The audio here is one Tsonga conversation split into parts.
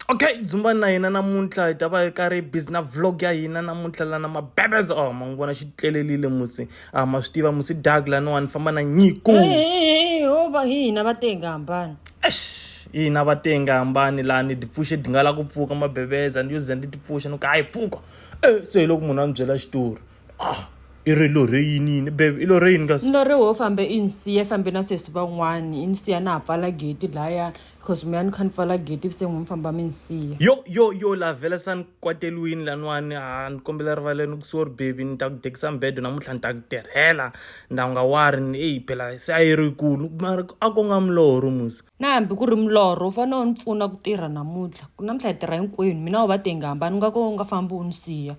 okay dzumbani na hina namuntlha hi ta va hi karhi busy na vlog ya hina namuntlha lana mabebes o oh, ma n'wi vona xi tlelelile musi a ah, ma swi tiva musi dag laniwani famba na nyiko hova hi hina va tenga hambana hina va tenga hambani laha ni tipfuxe di nga la ku pfuka mabebeza ni yo za ni tipfuxa ni ku hayi pfuka e se hi loko munhu a ni byela xitori ah i ri lorhe yini yini bebe i lorhe yini kasi ni lorhe wo fambe i ni siye fambe na sesi van'wani i ni siya na ha pfala geti lahaya because mi ya ni kha ni pfala geti se n'wi mi famba mi ni siya yo yo yo la vhela sa ni kwateriwini laniwani ha ni kombela rivaleni ku sori bebi ni ta ku dekisa mbedo namuntlha ni ta ku tirhela nda nga wari ni eyi phela se a yi ri kulu mara a ko nga milorho musi na hambi ku ri milorho u fanele u ni pfuna ku tirha namuntlha ku namuntlha hi tirha hinkwenu mina u va tengi hambani u nga ko u nga fambi u ni siya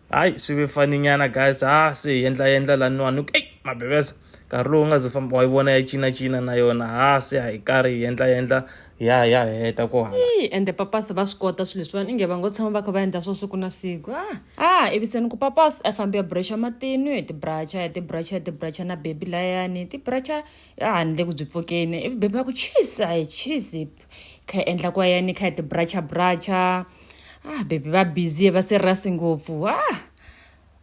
hayi swi ve fani nyana guys ha ah, se hi endla endla laniwani ku eyi mabebesa nkarhi lowu nga ze famba wa yi vona ya cinacina na yona ha ah, se hi karhi hi endla endla ya ya heta ku hala ende papasi va swi kota swilo leswiwani inge va ngo tshama va kha va endla swo siku na siku a ah, a eviseni ku papasi a fambi ya bracha matinu hi tibracha hi tibracha hi tibracha na bebi layani tibracha a handle ku byi pfukeni ivi bebi va ku chisi a hi chisi kha hi endla ku va yani kha hi ti bracha bracha ah bebi va busy va se rasi ngopfu ah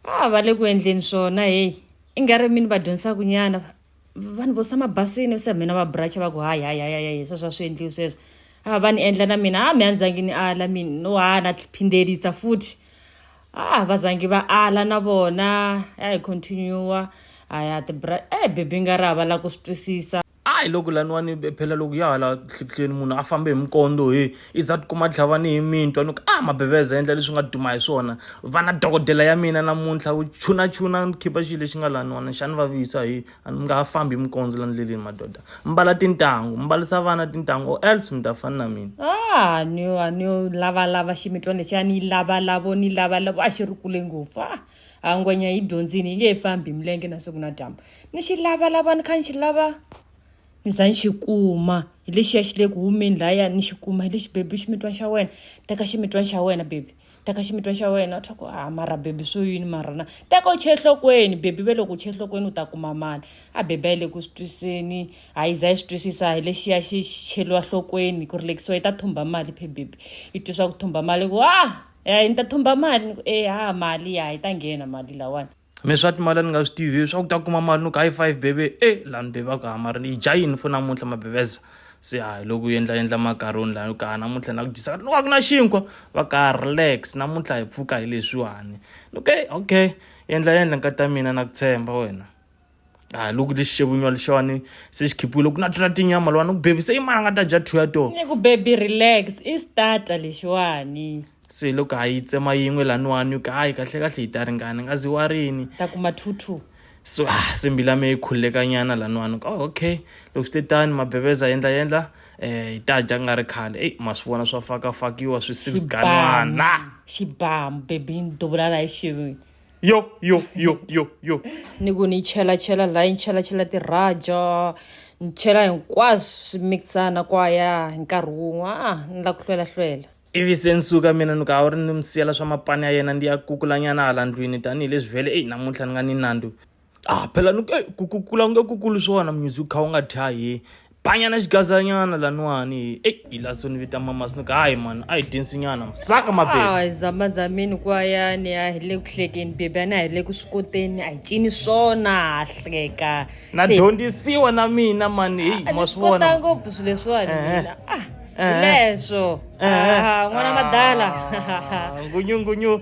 ah va le ku endleni swona heyi i nga ri mini va dyondzisaka nyana vanhu vo sama basini se mina va bracha va ku hayi hayi hayi hayi sweswo a swi endliwi sweswo a va ni endla na mina a mi a ndzangi ni ala mina no ha na phindelisa futhi a va zangi va ala na vona a hi continue a ya ti bra e bebi nga ri a va lava ku swi twisisa a hi loko laniwani phela loko ya hala hlikihlweni munhu a fambe hi mikondo he i za tikuma tlhavani hi mintwa ni ku a ah, mabeveza endla leswi nga duma hi swona vana dokodela ya mina namuntlha u chunachuna khipa xilo lexi nga laniwani xani va visa hi a ni nga ha fambi hi mikondzo la ndleleni madoda mbala tintangu mbalisa vana tintangu or else mi ta fani na mina ah, a ni yo lavalava ximitwa lexi a ni yi lavalavo ni lavalavo a xi ri kule ngopfu a ah. a ngwenya yi dyondzini yi nge yi fambi hi milenge na siku na dyambu ni xi lava lava ni kha ni xi lava ni za ni xi kuma hi lexiya xi le ku humeni lahaya ni xi kuma hi lexi bebi ximitwani xa wena teka ximitwani xa wena bebi teka ximitwani xa wena swa ku a mara bebi swo yini mara na teka u chee hlokweni bebi ve loko u chee hlokweni u ta kuma mali a bebi a yi le ku swi twiseni a yi za yi swi twisisa hi lexiya xi cheliwa hlokweni ku rilekisiwa yi ta thumba mali phe bebi yi twiswa ku thumba mali ku a ya ni ta thumba mali ni ku e ha mali ya yi ta nghena mali lawani mi swa timali a ni nga swi tivi swa ku ta kuma mali ni ku high five bebe e lani bebe a ku hamari ni yi dya yini fo namuntlha mabebeza se a hi loko u endla endla makaroni layo ka namuntlha na ku dyisa loko a ku na xinkwa va ka relax namuntlha hi pfuka hi leswiwani ni ku e okay endla endla nkata mina na ku tshemba wena a loko lexi xevunywa lexiwani se xi khiphiwile ku na tona tinyama lowani ku bebise i mani a nga ta dya two ya tona ni ku baby relax i starter lexiwani se loko ha yi tsema yin'we laniwani ka hayi kahle kahle yi ta ringana nga zi wa rini ta kuma two two so ah se mbilu ya me yi khululekanyana laniwani ka oh, okay loko swi te tani mabebeza yendla yendla um hi ta dya ku nga ri khale eyi ma swi vona swa fakafakiwa swi six ganwana xibamu bebi ni duvula laha xivini yo yo yo yo yo ni ku ni chela chela la ni chela chela tiraja ni chela hinkwaswo swi mixana kwaya hi nkarhi wun'we a ni la ku hlwela hlwela ivi se ni suka mina ni ku a wu ri ni mi siyela swa mapani ya yena ndi ya kukulanyana hala ndlwini tanihileswi vhele eyi namuntlha ni nga ni nandzu ah phela ni eh, ku ku kula nge ku kulu swona munyuzi u kha u nga thyahi banyana xigazanyana laniwani eyi hi la so ni vita mama sinoku hayi mani a hi dyensinyana saka mabebe hayi zamazamini kwayani a hi le ku hlekeni bebi a na hi le ku swi koteni a hi cini swona ha hleka na Se- dyondzisiwa na mina mani heyi a ma ni swi swi kota vona ngopfu swilo leswiwani Eh, eh. mina ah Eh, eh. leswo Eh, eh. Ah, n'wana madala Ah, ngunyu ngunyu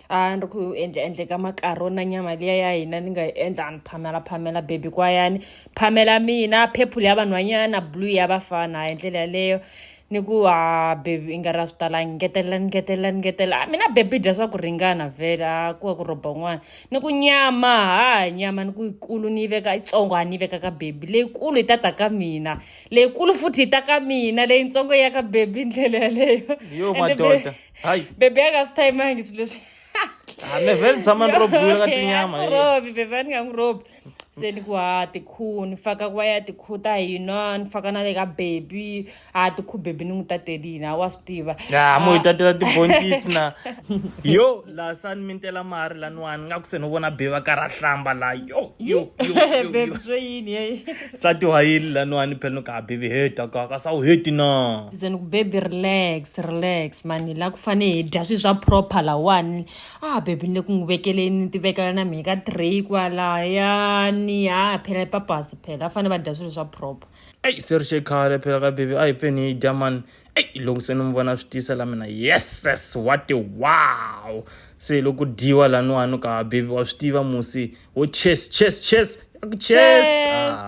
a ni ri ku endla endle ka makaro na nyama liya ya hina ni nga yi endla a ni phamela phamela bebi kwayani phamela mina purple ya vanhwanyana blue ya vafana hi ndlela yaleyo ni ku ha bebi i nga ri a swi talangi ngetelela ni ngetelela ni ngetelela a mina bebi dya swa ku ringana vhele a ku wa ku rhoba n'wana ni ku nyama ha nyama ni ku yikulu ni yi veka yitsongo a ni yi veka ka bebi leyikulu yi ta ta ka mina leyikulu futhi yi ta ka mina leyitsongo ya ka bebi ndlela yaleyo yo madoda hayi bebe a nga swi tayimangi swilo leswi hambi vhe ni tshama ni ro bula ka tinyama robi bebe a ni nga n'wi robi se ni ku ha tikhu ni faka ku va ya tikhu ta hina ni faka na le ka bebi ha tikhu bebi ni n'wi tatelini a wa swi tiva ya mo hi tatela tibontisi na yo laha sa ni mintela mari laniwani nga ku se ni vona bebi a karhi a hlamba laha yo yo yo bebe swo yini sati wa yili laniwani phela ni ka baby heta ka ka sa wu heti na bizeni ku baby relax relax mani la ku fane hi dya swi swa proper lawani a baby ni le ku n'wi vekeleni ni ti vekela na mina ka tray kwalayani a phela papasi phela a fane va dya swilo swa proper eyi se ri xekhale phela ka baby a hi peni hi dya mani eyi loko se ni n'wi vona swi tiyisa la mina yeses wati wow se loko dyiwa laniwani ka baby wa swi tiva musi wo chess chess chess chess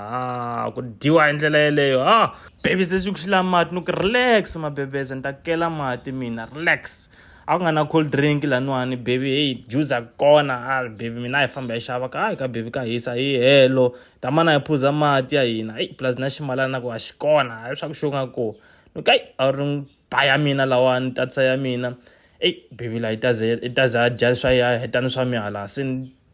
ah ku dyiwa hi ndlela yeleyo ha ah. baby se xi ku xi la mati ni ku relax mabebeze ni ta kela mati mina relax a ku nga na cold drink laniwani baby heyi juice a kona a ah, baby mina a hi famba hi xava ka hayi ka baby ka hisa hi helo tamana hi phuza mati ya hina eyi plus na ximalana na ku a xi kona a swa ku xo nga ko ni ka yi a ri ba ya mina lawani tatisa ya mina eyi baby la yi taze yi taze a dya swa ya hetani swa mihala se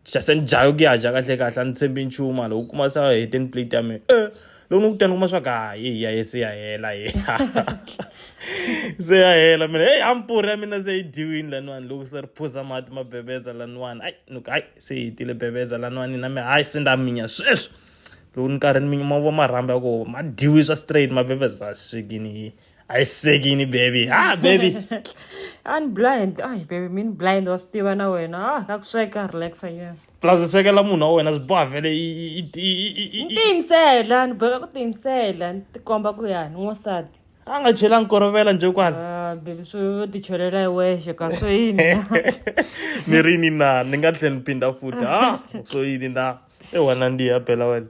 xase ni dlayo ku ya dya kahle kahle a ni tshembi nchumu a loko u kuma se a hete ni plate ya mina e loko ni kutani u kuma swa ku ha yi ya ye se ya hela ye se ya hela mina heyi hampuri ya mina se yi dyiwini laniwani loko se ri phuza mati ma bebeza laniwani ayi ni ku hayi se yi hetile bebeza laniwani na mi hayi se nda minya sweswi loko ni karhi ni minya ma vo marhambi ya koho ma dyiwi swa straight ma bebeza swekini yi I segini baby ah baby ani blind ai baby mini blind wa swi tiva na wena ah ka ku sweka relaxa yeah plus swekela munhu wa wena swi boha vele ni tiyimisela ni boheka ku tiyimisela ni tikomba ku yani n'wansati a nga chela nkorovela nje kwala ah, baby swo ti chelela hi wexe ka swo yini ni ri ni na ni nga tlhela ni phinda futhi ha ah, swo yini na ewana ndiya phela wena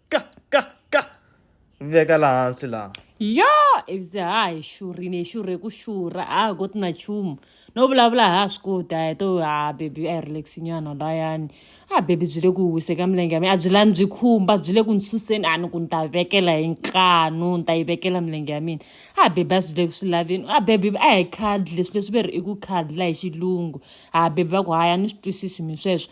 ka ka ka veka la hansi la yo ivize ha hi xurhini hi xurhe ku xurha a hi koti na nchumu no vulavula ha swi koti a hi to ha bebi a hi relaxinyana layani a bebi byi le ku wise ka milenge ya mina a byi lani byi khumba byi le ku ni suseni a ni ku ni ta vekela hi ntlhanu ni ta yi vekela milenge ya mina a bebi a swi le ku swi laveni a bebi a hi khadle swilo leswi ve ri i ku khadla hi xilungu a bebi va ku haya ni swi twisisi mi sweswo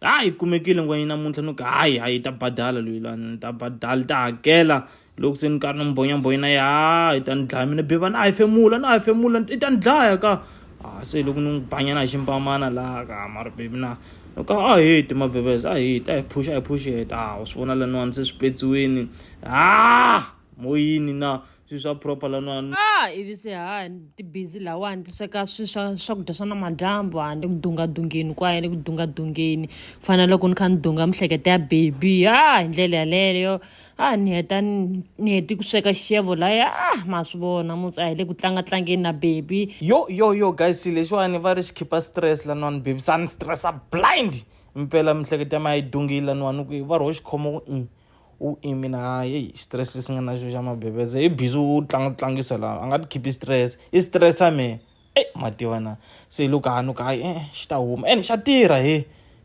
Hayi yi kumekile ngwenya namuntlha ni ku hayi hayi yi ta badala loyi la ni ta badala yi ta hakela loko se ni karhi ni mbhonyambhonya na ya yi ta ni dlaya mina bebani a hefemula na hefemula i ta ni dlaya ka a ah, se loko ni n'wi banyana hi ximpamana laha ka mara bebi na loko a ah, heti mabebes a ah, heti a hi phuxi a hi phuxi heta a swi vona laniwani se swi petsiwini a moyini na swi swa proper lanwani ah ivi se ha tibhizi lawani ti sweka swi swa swakudya swa namadyambu handle ku dungadungeni kwaya le ku dungadungeni ku fana loko ni kha ni dunga mihleketa ya baby ha ah, hi ndlela yaleyo a ah, ni heta ni heti ku sweka xixevo laya a ah, ma swi vona mutsi a hi le ku tlanga tlangeni na baby yo yo yo guys lexiwani va ri xi khipha stress lanwani baby sa ni stressa blind mpela mihleketa ya ma yi dungile lanwani ku va ri ho xikhomo ku i u mina hayi stress si nga na xo xa mabebese i busy u tlanga u tlangisa laha a nga ti khiphi stress i stress a mehe eyi ma tiva na se loko hanu ka hayi e-e xi ta huma ene xa tirha he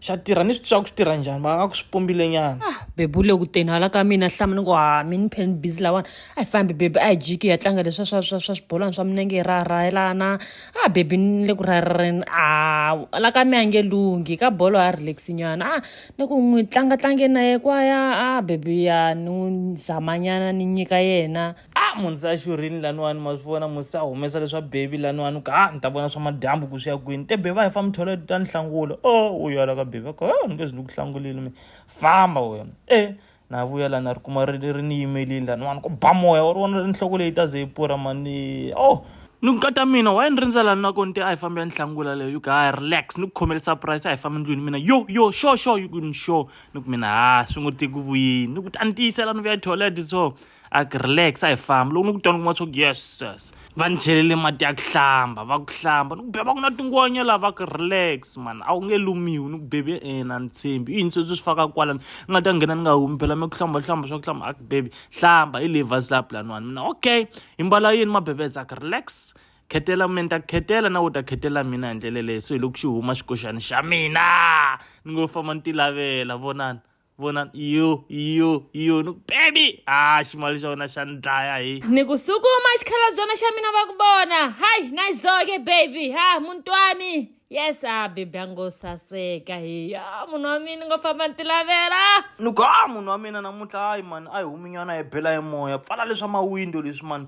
xa tirha ni swi twa ku swi tirha njhani va nga ku swi pumbile nyana ah, bebu le ku teni hala ka mina hlama ni ku ha ah, mi ni pheni busy lawani a hi fambi bebi a hi jiki hi ya tlanga leswa swa swa swa swibolwana swa minenge hi raharayelana a ah, bebi ni le ku raharareni a la ka mi a nge lunghi ka bolo ha relax nyana a ni ku n'wi tlanga tlange na ye kwaya a bebiya ni n'wi zamanyana ni nyika yena a munhu se a xurhini laniwani ma swi vona munhu se a humesa leswa bebi laniwani ku a ni ta vona swa madyambu ku swi ya kwini te bebi a hi fambi thola ta ni hlangula o u yala ka bebi a ku ni nge zi ni ku hlangulile mi famba wena e na vuya la na ri kuma ri ri ni yimelini la ni vona ku ba moya wa ri vona ri nhloko leyi ta ze yi pura mani oh ni nkata mina waye ni rindza lani nako ni te a hi fambi ya ni hlangula leyo yuku ha relax ni ku khomele surprise a hi fambi ndlwini mina yo yo sure sure yuku ni sure ni ku mina ha swi ngo tiki vuyini ni ku ta ni tiyisela ni vuya toilet so a ku relax a hi famba loko ni ku twana kuma swa ku yes yes va ni chelele mati ya ku hlamba va ku hlamba ni ku beba ku na tingonya laha va ku relax mani a wu nge lumiwi ni ku bebi ena ni tshembi i yini sweswi swi faka kwala ni nga ta nghena ni nga humi phela mi ku hlamba hlamba swa ku hlamba a ku bebi hlamba hi leyi vhasi laha pulaniwani mina okay hi mbala yini mabebeza a ku relax khetela mina ta khetela na u ta khetela mina hi ndlela leyi so hi loko xi huma xikoxani xa mina ni ngo famba ni ti lavela vonani vona iyo iyo iyo ni ku bebi ha ximali xa wena xa ni dlaya hi ni ku sukuma xikhalabyana xa mina va ku vona hayi nayizoke baby ha muti wa mi yes a bebi a ngo saseka hi ya munhu wa mina ni ngo famba ni ti lavela ni ku ha munhu wa mina namuntlha hayi mani a hi huminyana hi bela hi moya pfala leswa mawindo leswi mani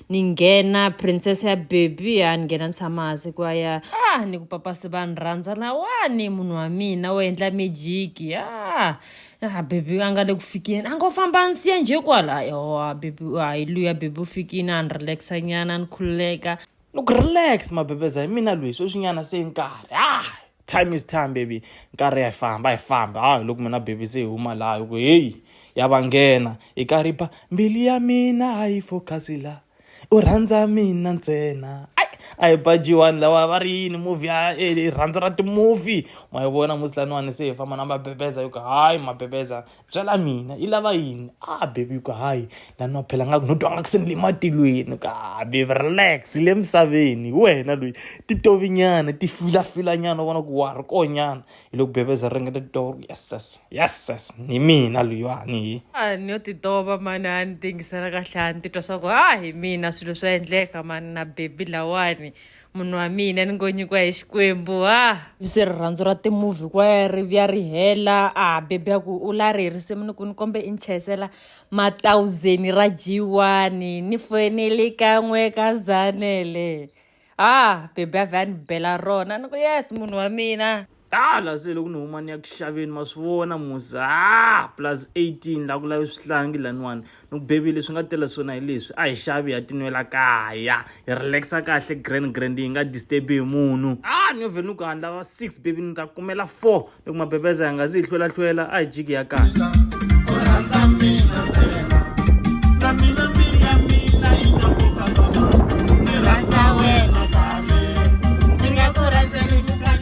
ni nghena princess ya baby ya ni nghena ni tshama hansi ku ya ah ni ku papasi va ni rhandza lawani munhu wa mina wo endla mijiki ah ah baby a nga le ku fikeni a ngo famba ni siya njhe kwala yowa baby hayi luya baby u fikini a ni relaxa nyana ni khululeka ni ku relax mabebeza hi mina lweyi sweswinyana se nkarhi ah time is time baby nkarhi ya hi famba hi famba ha hi loko mina baby se hi huma laha hi ku heyi ya va nghena hi karhi ba mbilu ya mina a yi focus la u rhandza mina ntsena a hi bajiwani lawa va ri yini movie ya rirhandzu ra timovie ma yi vona musilaniwani se hi famba na mabebeza hi ku hayi mabebeza byela mina yi lava yini a baby ku hayi la no phela nga ku no twa nga ku se ni le matilweni ka baby relax le misaveni hi wena loyi titovinyana ti filafilanyana u vona ku wa ha ri konyana hi loko bebeza ri ringeta titova ku yes yes yes yes ni mina loyiwani hi a ni yo titova mani a ni tingisela kahle a ni titwa swa ku a hi mina swilo swa endleka mani na baby lawani munhu wa mina ni ngo nyikiwa hi xikwembu ha se rirhandzu ra timovhi kwaya ri vya ri hela a bebi ya ku u la ri risimu ni ku ni kombe i ni chayisela matawuzeni ra jiwani ni foyineli kan'we ka zanele ha bebi ya vhe a ni bela rona ni ku yes munhu wa mina tala se loko ni huma ni ya ku xaveni ma swi vona musa ah, plus 18 la ku lavi swihlangi laniwani ni ku bebile swi nga tela swona hi leswi a hi xavi ya tinwela kaya hi relaxa kahle grand grand yi nga disturbi hi munhu a ah, ni yo vhele ni ku handla va six bebi ni ta kumela four ni ku mabebeza ya nga zi hi hlwelahlwela a hi jiki ya kahle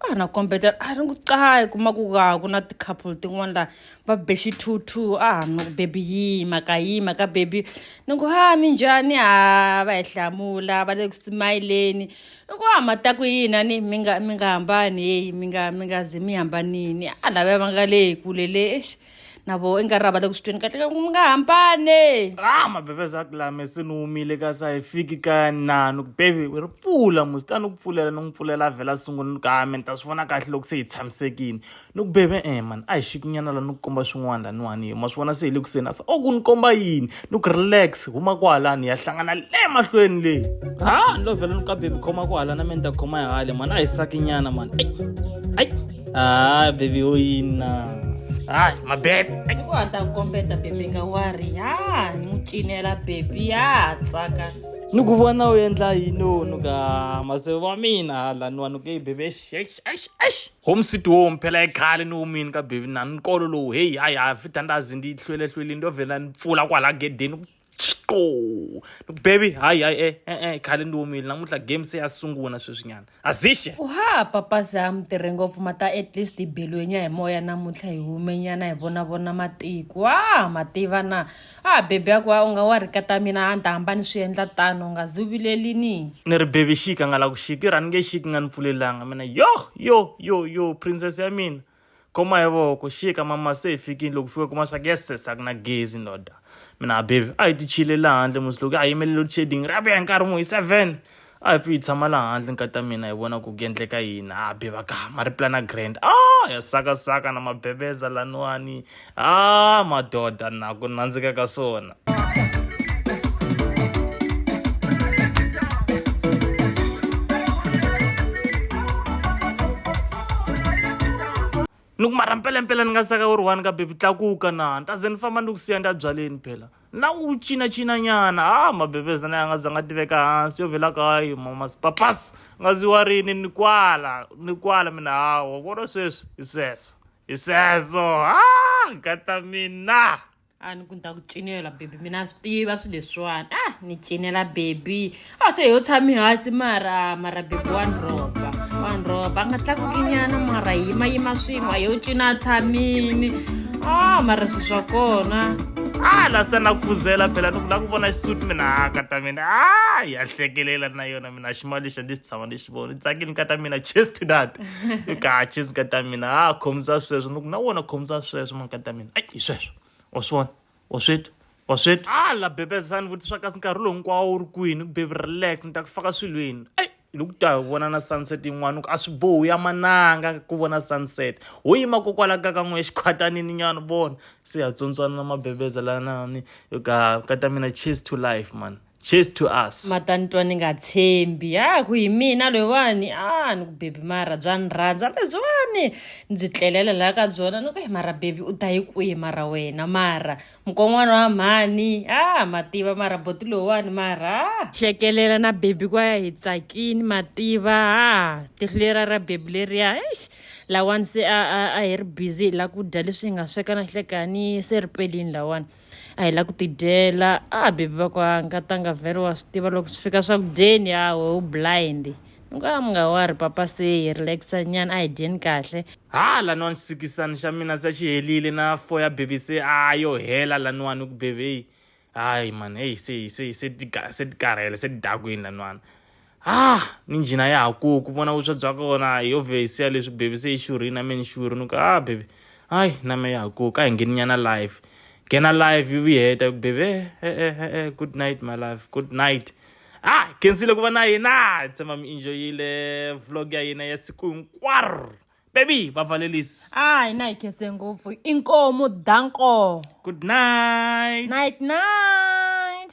a ha na kombetela a ri ngiqayi kuma ku ka ku na ti-couple tin'wana laha va bexi two two a ha no bebi yima ka yima ka bebi ni ku ha mi njhani ha va hi hlamula va le ku simayileni i ku ha ma ta ku yini a ni mi nga mi nga hambani heyi mi nga mi nga ze mi hambanini a lava va nga le hi kule le exi na vo i nga ri ra vata ku swi tweni kahle ka ku mi nga hambane ah mabebe za kulame se ni wumile ka sa hi fiki ka na ni ku bebi ri pfula musi ta ni ku pfulela ni n'wi pfulela vhela sungula ni kame ni ta swi vona kahle loko se hi tshamisekile ni ku bebe e eh, mani a hi xikinyana la ni ku komba swin'wana laniwani ma swi vona se hi le kuseni afa o oh, ku ni komba yini ni ku relax huma kwala ni ya hlangana le mahlweni leyi ha ni lo vhela ni ka bebi khoma kwala na mina ni ta khoma hi hale mani a hi sakinyana mani ai ai a bebi yo yina hayi mabebe ku a ta kombeta bebi nga wari ya ni n'wi cinela bebi ya tsaka ni ku vona u endla yini u nuka maseve wa mina hala ni wa nuke yi bebe exi exi exi exi Home sweet home phela ekhale ni wumini ka baby na nkolo lowu heyi hayi ha fithandazi ndi hlwelehlwelini ndo vhela ni pfula kwala gedeni ku chqo baby hayi hayi e e e khale ndi wumile namuntlha game se ya sungula sweswinyana azixe uhaa papa sam tirhe ngopfu mata at least hi belwenya hi moya namuntlha hi humenyana hi vonavona matiko wa mativa na A a bebe a ku, A u nga wa ri kata mina a ni ta hamba ni swi endla tano, u nga zi u vileli ni. Ni ri, Bebe xiki, a nga la ku xiki, i ri, A ni nge xiki, i nga ni pfulelanga mina. Yoh! Yoh! Yoh! Yoh! Princess ya mina! Khoma hi voko, xika, mama se hi fikile. Loko hi fika hi kuma swa ku, Yeses, a ku na gezi, ndoda. Mina, A bebe, a hi ti chiyile laha handle musi loko a hi yimelele loadshedding, ri ya vuya hi nkarhi muni? Hi seven? a hi pfi hi tshama la handle nkati ya mina hi vona ku ku endleka yini a be va ka ma ri plana grand a ya sakasaka na mabebeza laniwani a madoda na ku nandzika ka swona ni ku mara mpelampela ni nga saka u ri one ka bebi tlakuka na ni ta ze ni famba ni ku siya ni ta byaleni phela na n'wi cinacinanyana ha mabebeza na ya nga za nga tiveka hansi yo vela kayo mamas papas nga zi wa rini ni kwala ni kwala mina hawa vona sweswi hi sweswo hi sweswo ha gata mina a ni ku ni ta ku cinela bebi mina a swi tiva swilo leswiwani a ni cinela bebi ase yo tshami hansi mara mara bebi wa nroba wa nroba a nga tlakukinyana mara yima yima swin'we a yo cina a tshamini a mara swi swa kona a la se na khuzela phela ni ku la ku vona xisuti mina a ka ta mina a ya hlekelela na yona mina ximali lexi a ndzi xi tshama ni xi vona tsakini ka ta mina cheers to that i ka cheers ka ta mina a khomisa sweswo ni ku na wona khomisa sweswo mani ka ta mina ai hi sweswo wa swi vona wa swi twa wa swi twa hala bebezani vutisa kasi nkarhi lowu hinkwawo wu ri kwini ku bebi relax ni ta ku faka swilweni eyi loko ta hi vona na sunset yin'wana ku a swi bohu ya mananga ku vona sunset ho yima kokwala ka ka n'we xikhwatanini nyana vona se ha tsontswana na mabebeza lanani ka ka ta mina cheers to life man cheers to us matani twa ni nga tshembi ha ku hi mina loyiwani a ni ku bebi mara bya ni rhandza lebyiwani ni byi tlelela laha ka byona ni ku hi mara bebi u ta yi kwihi mara wena mara mukon'wana wa mhani a mativa mara boti loyiwani mara hlekelela na bebi kwa ya hi tsakini mativa a tihlulera ra bebi leriya eish lawani se a hi ri busy hi la ku dya leswi hi nga sweka na hlekani se ri pelini lawani a hi la ku tidyela a bebi va kwa nkatanga vhele wa swi tiva loko swi fika swakudyeni a we u blind ni ku a mi nga wari papa se hi relaxa nyana a hi dyeni kahle ha laniwani xisikisani xa mina se xi helile na fo ya bebi se a yo hela laniwani ku bebi heyi hayi mani heyi se se se se ti karhele se ti dakwini laniwani ha ni njhina ya ha ku ku vona vuswa bya kona hi ovhesi ya leswi bebi se yi xurhini na me ni xurhi ni ku ha bebi hayi na me ya ha ku ka hi ngheni nyana live nghena live yi vuyi heta ku bebi e e e e good night my life good night ha khensile ku va na yena tshemba mi enjoyile vlog ya yena ya siku hinkwaro bebi va valelisi a hi na hi khese ngopfu inkomu danko good night night night